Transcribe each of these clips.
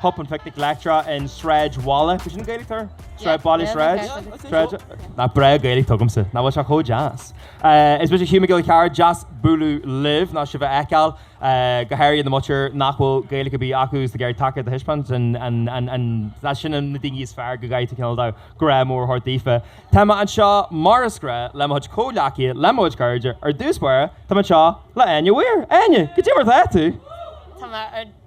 Pop an phicnic leictreach i Sráidbhaile, b'shin an Gaeilge ar? Sráid Bhaile Sráid? Sráid? Nach breá Gaeilge atá agamsa, nach bhfuil sé chomh deas? Is mise Hugh Mac Giolla Chearra, deas bualadh libh, nó sibh a fheiceáil, go háirithe na muintir nach bhfuil Gaeilge ar bith acu, is ag iarraidh tacaíocht a thaispeáint, an, sin na daoine is fearr go gcaithfidh tú cineál dul, grá mór a thabhairt daofa. Tá mé anseo, mar is gnách, le mo chuid comhghleacaithe, le mo chuid cairde, ar dtús báire, tá mé anseo le hÁine Mhaoir. Áine, cad é mar atá tú? Tá mé ar.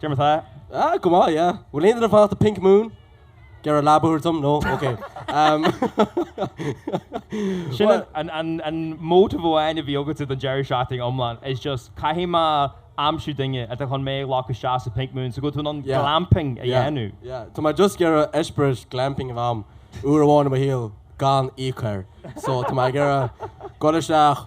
Dermot, Ah, ah, go maith, yeah. Bhfuil aon duine ag fanacht Pink Moon? Ag iarraidh leaba a thabhairt dom, No? Ok. Sin Bhuel. an, an, an motive amháin a bhí agatsa don deireadh seachtaine iomlán, is just, caithfidh mé aimsiú duine atá chun mé a ghlacadh isteach sa Pink Moon, so go tú in ann Yeah. glamping a Yeah, dhéanamh. yeah. Tá mé just ag iarraidh eispéireas glamping a bheith agam, uair amháin i mo shaol, gan íoc air. So, tá mé ag iarraidh dul isteach.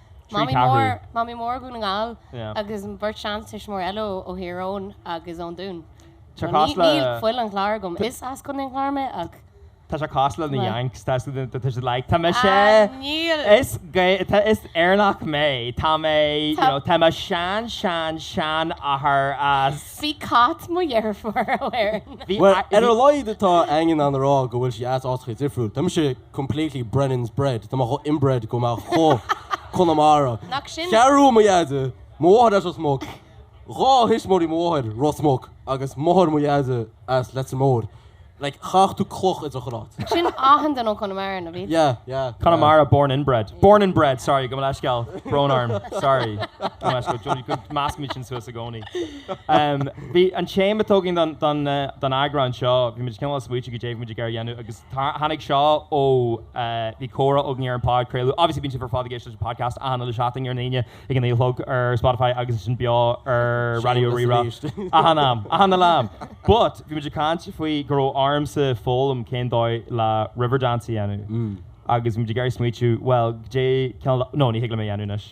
Mamaí Mór, Mamaí Mór Dhún na nGall agus an bheirt seantuismitheoirí eile ó Thír Eoghain agus ón Dún. Níl fuil an Chláir agam, is as Contae an Chláir mé ach. Tá sé cosúil le na Yanks, tá siad like tá mé sé! Níl! Is Éireannach mé, tá mé you know tá mo shean shean sheanathair as. Bhí cat mo dheirfiúr ó Éirinn. Bhuel ar a laghad tá Áine in ann a rá go bhfuil sí as áiteacha difriúil, tá mise. completely Brennan's bread, tá mé chomh inbred tá mé chomh Conamara, Nach sin. Cheathrú Rua mo dheaide, mo mháthair as Ros Muc, dhá thuismitheoirí mo mháthair, Ros Muc, agus máthair mo dheaide as Leitir Móir, like chaithfeadh tú cloch idir dhá áit. Sin achan duine ó Conamara, nó bhí? Yeah, yeah. Connemara born inbred. Born and bred, sorry, gabh mo leithscéal. Brón orm, sorry. Gabh mo leithscéal, Johnny, go meascaim sin suas i gcónaí. Um, bhí an téama atá againn don, don, eh, don eagrán seo, bhí muid cineál ag smaoitiú cad é a bhí muid ag iarraidh a dhéanamh agus Tháinig seo ó, bhí comhrá againn ar an podchraoladh, obviously bíonn sibh ar fad ag éisteacht leis an podcast achan uile seachtain ar an Aoine ag a naoi a chlog ar Spotify agus ansin beo ar Raidió Shameless Rí-Rá arís. achan am, achan uile am! But, bhí muid ag caint faoi go raibh ormsa foghlaim cén dóigh le Riverdance a dhéanamh agus bhí muid ag iarraidh smaoitiú, bhuel, cé cineál, no, ní thig liom é a dhéanamh anois.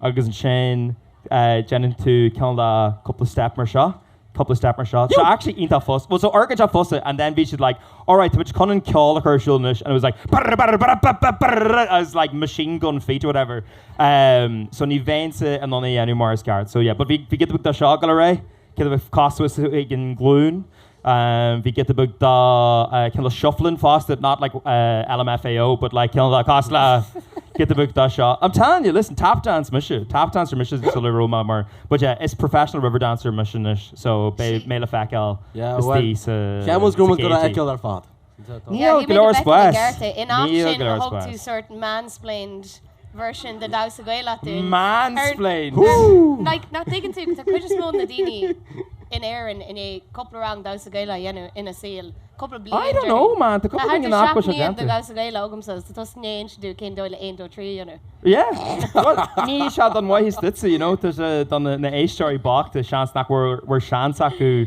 agus ansin déanann tú cineál cúpla step mar seo, cúpla step mar seo. Tá actually iontach furast, bhuel so iontach furast and then bhí siad like alright táimid chun an ceol a chur ar siúl anois and it was like barra barra barra bap bap barrara agus like machine gun feet or whatever ehm so ní bheinnse in ann é a dhéanamh mar is ceart so yeah but bhí bhí giota beag dá seo go léir, giota beag cosúil is a bhí ag an ghlúin. Bhí giota beag de cineál shuffling fosta, not like LMFAO but like cineál cosúil le giota beag dá seo. I'm telling you, listen, tap dance mise, tap dancer mise sula raibh mé mar, but yeah, is professional river dancer mise anois so beidh mé le feiceáil istigh sa gcéad. Cheapfainn go raibh muid le feiceáil ar fad. Níl go leor spáis. Níl go leor spáis. Mansplained! I don't know man, tá cúpla daoine nach bhfuil sé déanta. Yeah, bhuel, níl sé don mhaitheas duitse, you know, tá sé don na éisteoirí bochta, seans nach bhfuil seans acu,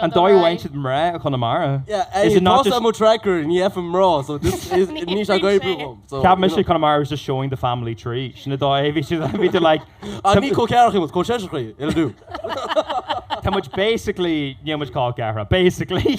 An dóigh a bhfaigheann siad mná i gConamara? Cheap mise Conamara was just showing the family tree. Sin an dóigh a bhí siad ag bhí like An ní col ceathracha, col seisearacha, it'll do. Tá muid basically, níl muid col ceathrar, basically.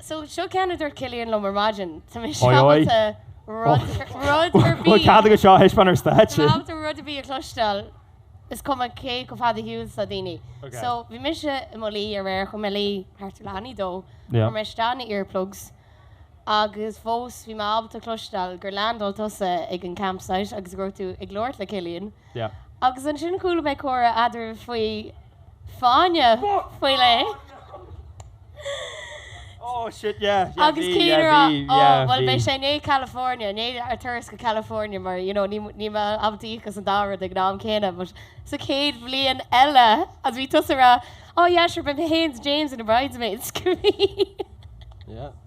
So, seo ceann a dúirt Cillian liom ar maidin. Tá mé ábalta rud ar bith. Cead agat seo a thaispeáint ar stáitse. Tá mé ábalta rud ar bith a chloisteáil, is cuma cé chomh fada ar shiúl is atá daoine. So, bhí mise i mo luí aréir, chuaigh mé a luí thart ar leath i ndiaidh a dó, chuir mé isteach na earplugs, agus fós bhí mé ábalta cloisteáil gur leaindáil tusa ag an campsite agus go raibh tú ag labhairt le Cillian. Agus ansin chuala mé comhrá eadraibh faoi. fáinne faoi leith agus Cillian a rá, Ó, bhuel, beidh sé i ndiaidh California, i ndiaidh ár dturas go California, mar you know níl mé ábalta íoc as an dá rud ag an am céanna. But sa chéad bhliain eile agus bhí tusa a rá, Oh yeah, sure, mé fhéin is James ina bridesmaids, go mbeidh.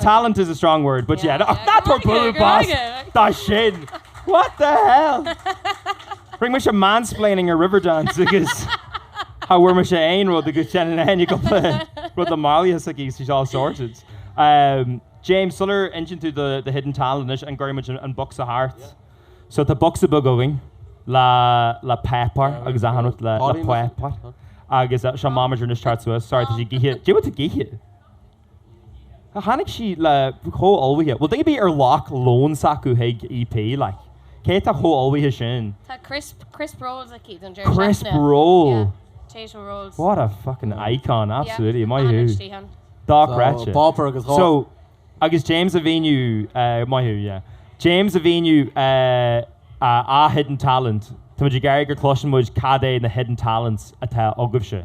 Talent is a strong word but yeah ach not for bualadh bos dó sin! What the hell! Rinne mise mansplaining ar Riverdance agus cha bhfuair mise aon rud agus déanann éinne cúpla rud le malaí s'aici so she's all sorted. James, sular insíonn tú do do hidden talent anois an gcuirfidh muid an bocsa thart? So tá bocsa beag againn le le páipéar agus achan rud le le páipéar agus seo mamager anois thart suas. Sorry tá sí gaoithe. Dia bhfuil tú gaoithe? Tháinig sí léi chomh ullmhaithe, bhuel, daoine a bheir leo lón s'acu chuig EP, like. Cé atá chomh ullmhaithe sin? Tá crisp, crisp rolls aici don deireadh seachtaine. Crisp roll? Yeah, potato rolls. What a fucking icon, absolutely. Yeah, maith thú. Dochreidte. So, páipéar agus dhá. So, agus James a mhíniú, eh, maith thú, yeah. James a mhíniú, eh, a, a hidden talent. Tá muid ag iarraidh go gcloiseann muid cad é na hidden talents atá agaibhse.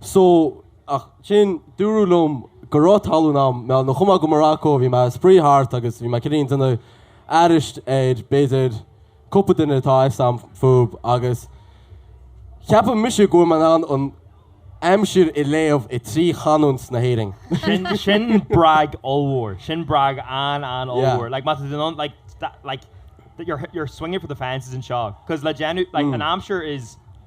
So, ach sin, dúradh liom go raibh tallann agam, mar nuair a chuaigh mé go Morocco, bhí mé ag spraoi thart agus bhí mé cineál ag déanamh aithris ar, b'fhéidir, cúpla duine atá sa phub agus cheap mise go bhfuil mé in ann an aimsir a léamh i trí chanúint na hÉireann. Sin, sin brag ollmhór, sin brag an-an-ollmhór. Yeah. Like, má tá tú in ann, like, like, you're, you're swinging for the fences anseo, 'cause le déanamh, like, an aimsir is.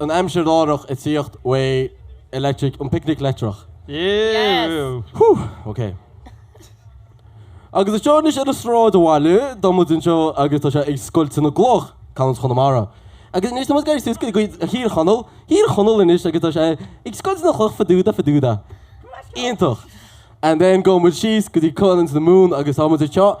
an aimsir láithreach ag tíocht uaidh Electric, an picnic leictreach. Agus anseo anois ar an Sráidbhaile, tá muid anseo agus tá sé ag scoilteadh na gcloch, canúint Chonamara. Agus anois tá muid ag éirí suas go dtí Thír Chonaill, Thír Chonaill anois agus tá sé ag scoilteadh na gcloch fadúda fadúda. Iontach! And then gabhann muid síos go dtí canúint na Mumhan agus tá muid anseo,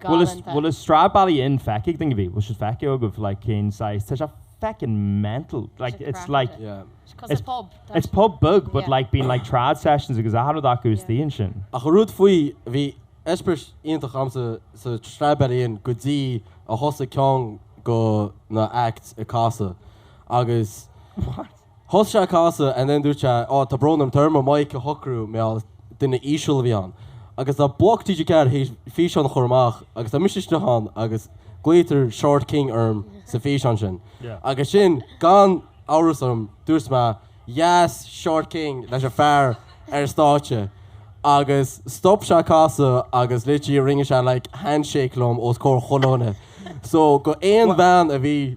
galánta. Bhfuil an Stradbally Inn feicthe ag daoine? Bhfuil siad feicthe agaibh? Like, cén saghas? Tá sé feckin' mental. Like, it's like. Is cosúil pub. It's pub beag, but like, bíonn like trad sessions agus achan rud acu istigh ansin. Ach an rud faoi, bhí eispéireas iontach agamsa sa Stradbally Inn go dtí a thosaigh ceann go na acts ag casadh agus. What? Thosaigh sé ag casadh and then dúirt sé, oh tá brón orm, tá orm an mic a shocrú, mar duine íseal a bhí ann. Agus tá Bloc TG4 théis físeán a chur amach agus tá mise isteach ann agus glaoitear Short King orm sa físeán sin. Agus sin gan amhras orm, dúirt mé Yes, Short King leis an fear ar an stáitse. Agus stop sé ag casadh agus literally rinne sé like handshake liom os comhair chuile dhuine. So go aon bhean a bhí.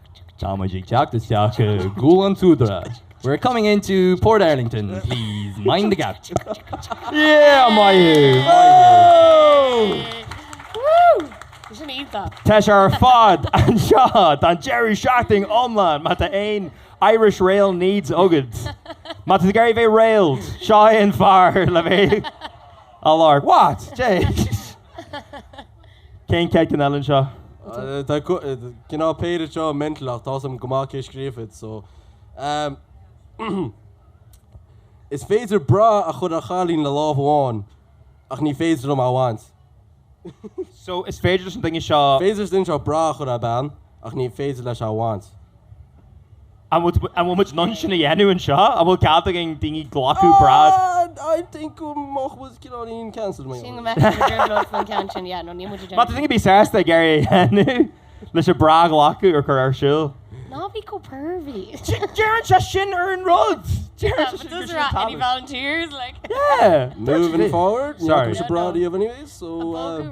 Tá muid ag teacht isteach i gCúil an tSúdaire. We're coming into Portarlington, please mind the gap. Yeah, maith thú! Tá sé ar fad anseo don deireadh seachtaine iomlán! Má tá aon Irish rail needs agat, má tá tú ag iarraidh a bheith railed, seo é an fear le bheith á lorg. What? Jeez! An chéad cheann eile anseo. Tá cineál péire seo mental ach tá a fhios agam go maith cé scríobh iad so Is féidir bra a chur ar chailín le lámh amháin ach ní féidir liom é a bhaint. So is féidir leis an duine seo. Is féidir leis an duine seo bra a chur ar bean ach ní féidir leis é a bhaint. An bhfuil muid in ann sin a dhéanamh anseo? An bhfuil cead againn daoine glacadh bra? Má tá duine ar bith sásta ag iarraidh a dhéanamh leis an bra a ghlacadh or cur ar siúl. Ná bí chomh pervy. Deireann sé sin ar an rud! Deireann sé sin ar an rud! Any volunteers? Yeah! Moving forward. Sorry. It's a broad of anyways, so... Uh,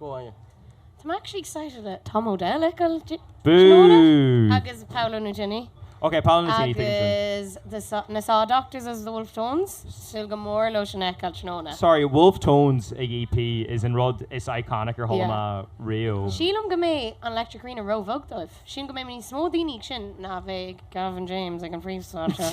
I'm actually excited that Tom Odell ag dul tráthnóna agus Paolo Nutini agus na Saw Doctors agus The Wolfe Tones, súil go mór leo sin a fheiceáil tráthnóna. Sorry, Wolfe Tones ag EP is an rud is iconic ar chuala mé riamh. Sílim go mbeidh an Electric Arena ró-bheag dóibh. Sílim go mbeidh níos mó daoine ag sin ná a bheidh ag Gavin James ag an phríomhstáitse.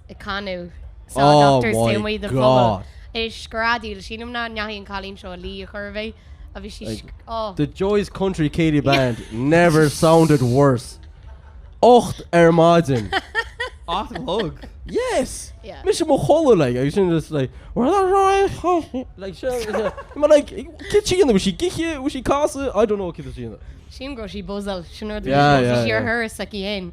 ag canadh Saw Doctors taobh amuigh don phobal. Is ag screadaíl, sílim nach ndeachaigh an cailín seo a luí ar chor ar bith, a bhí sí, oh. The Joyce Country Céilí Band never sounded worse. Ocht ar maidin. Ocht a chlog? Yes! Yeah. Mise i mo chodladh like agus sin just like Well that's right like sure Ma like cé tí ina raibh sí cibé bhí sí ag casadh I don't know cé tíanana. Sílim go raibh sí bozal sin ar ar sa héin.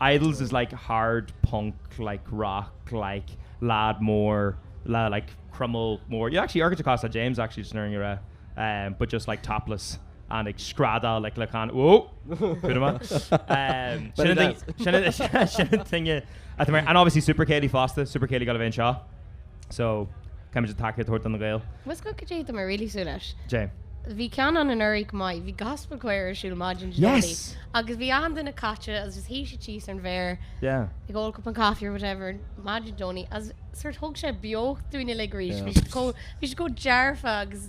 Idles is like hard punk, like rock, like lad mór le like croiméal mór, yeah actually Argent Acosta James actually just nuair a eh but just like topless and ag screadáil like le chan whoa put him on eh Belly dance. sin an ding sin an ding sin an ding eh, and obviously Super Céilí fosta, Super Céilí ag gabháil fhéin seo. So, caithfimid an tacaíocht a thabhairt do na Gaeil. Buíochas go deo, tá mé really súil leis. Dté. Bhí ceann ann anuraidh chomh maith, bhí gospel choir ar siúl maidin Dé Domhnaigh. Yes! Agus bhí achan duine caite agus just shuigh siad síos ar an bhféar, Yeah. ag ól cupán caife or whatever maidin Dé Domhnaigh agus sóirt thug sé beocht dúinn uilig arís. Yeah. Bhí siad chomh, bhí siad chomh dearfach agus.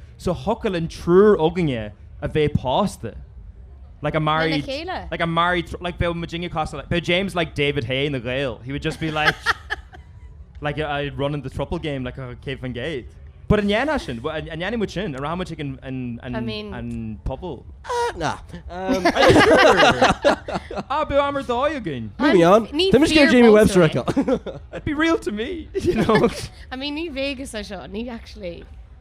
so thiocfadh linn triúr againne a bheith pósta, like a married, lena chéile. like a married throu-, like bheadh muidinne cosúil, bheadh James like David Haye na nGael, he would just be like, like a a running the throuple game like a céad faoin gcéad. But an ndéanfadh sin, an an ndéanfaidh muid sin, an rachaidh muid chuig an an an I mean. an phuball? Ah, na. Ah, bheadh am ar dóigh againn. Moving on. An- ní Tá mise ag dul le fear Jamie Webster pósta é. acu. It'd be real to me, you know. I mean, ní Vegas é seo, ní actually.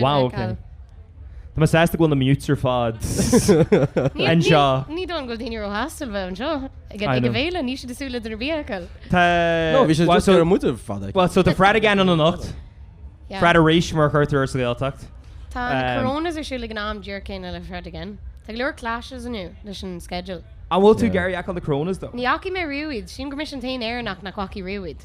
Wow, ok. Tá mé sásta go bhfuil muid ar fad anseo. Ní dóigh go bhfuil daoine róshásta bheith anseo ag an bhféile, níl siad ag súil le duine ar bith acu. Tá. No, bhí siad ag súil le muidne ar fad. Bhuel, so tá Fred again ann anocht. Fred arís mar a chuirtear air sa Ghaeltacht. Tá na Coronas ar siúl ag an am díreach céanna le Fred again. Tá go leor clashes inniu leis an schedule. An bhfuil tú ag iarraidh a ghabháil ag Coronas though? Ní fhaca mé riamh iad. Sílim gur mise an t-aon Éireannach nach bhfaca riamh iad.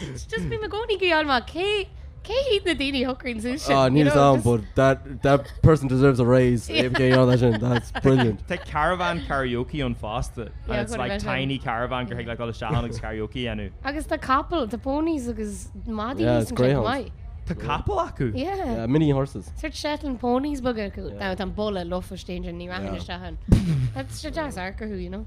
It's just been Magoni Guion ma. Cé, cé hiad na daoine a shocraigh suas sin? Ah, níl a fhios agam, but that, that person deserves a raise, Aodh Mac Géigearán as sin, that's brilliant. Tá caravan karaoke ann fosta, and it's like tiny caravan go dtig leat dul isteach ann agus karaoke a dhéanamh. Agus tá capall, tá ponies agus madaí Yeah, it's san greyhounds. chomh maith. Tá capall acu? Yeah. Yeah, mini horses. Sort Shetland ponies beaga acu. Now tá an boladh lofa istigh ansin, ní rachainn Yeah. isteach ann. Tá sé deas amharc orthu, you know.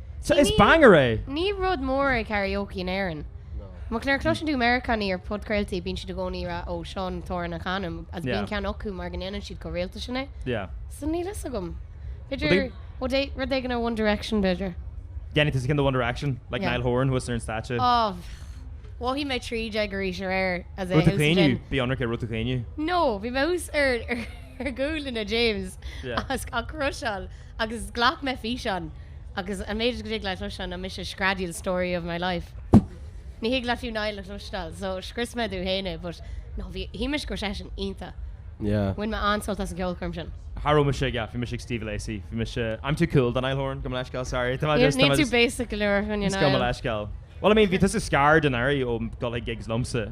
So is banger é! Ní rud mór é karaoke in Éirinn. Ach nuair a chloiseann tú Meiriceánaigh ar phodchraoltaí bíonn siad i gcónaí ag rá 'Ó, seo an t-amhrán a chanaim' agus bíonn ceann acu mar go ndéanann siad chomh rialta sin é. So níl a fhios agam. B'fhéidir rud éigin ó One Direction, b'fhéidir. Dhéanfá tusa ceann de One Direction, like Niall Horan thuas ar an stáitse. Oh, mhothaigh mé trí déag arís aréir. As in, thús an gin. An raibh tú ag caoineadh? Bí ionraic an raibh tú ag caoineadh? No, bhí mé thuas ar ghuaillí James as a crush-áil. Agus ghlac mé físeán. Agus an méid go dtig leat a chloisteáil ná mise ag screadaíl story of my life. Ní thig leat fiú Niall a chloisteáil. So scrios mé dom féin é but no, bhí, shíl mise go raibh seisean iontach. Yeah. Bhain mé an-sult as an cheolchoirm sin. Cha raibh mise ag, yeah, bhí mise ag Steve Lacy, bhí mise, I'm too cool do Niall Horan, gabh mo leithscéal, sorry. Tá mé just, tá mé just. Níl tú basic go leor, a dhuine, Niall. Just gabh mo leithscéal. Bhuel, I mean, bhí tusa scarred anuraidh ó dhul ag gigs liomsa.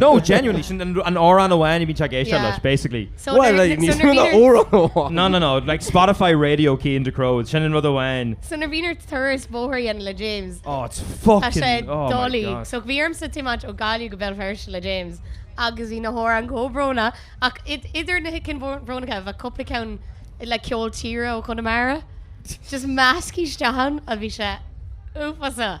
No, genuinely, sin an t-amhrán amháin a bhíonn sé ag éisteacht leis, basically. Bhuel, like, níos mó ná amhrán amháin. No, no, no, like Spotify Radio Cian Ducrot, sin an rud amháin. So nuair a bhínn ar turas bóthair a dhéanamh le James, Oh, it's fucking, tá sé oh my dolaí. God. So bhí ormsa tiomáint ó Gaillimh go Béal Feirste le James agus bhí na hamhráin chomh brónach, ach i- idir na hicin bhó- bhrónacha bheadh cúpla ceann like ceol tíre ó Chonamara. Just measctha isteach ann a bhí sé uafásach.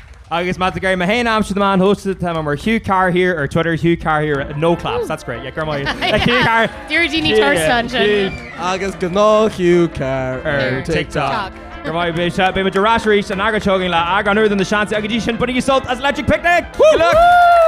Agus má tá gá le mé a aimsiú na meáin shóisialta tá mé mar Hugh Carr here ar Twitter Hugh Carr here no claps that's great yeah go raibh maith agat Hugh Carr Deirdre Ní Fhurasta ansin. Agus gnáth Hugh Carr ar TikTok. Go raibh maith agat Beidh muid ar ais arís an Aoine seo chugainn le eagrán úr de Na Seansálaithe ach go dtí sin bainigí sult as Electric Picnic! Good luck!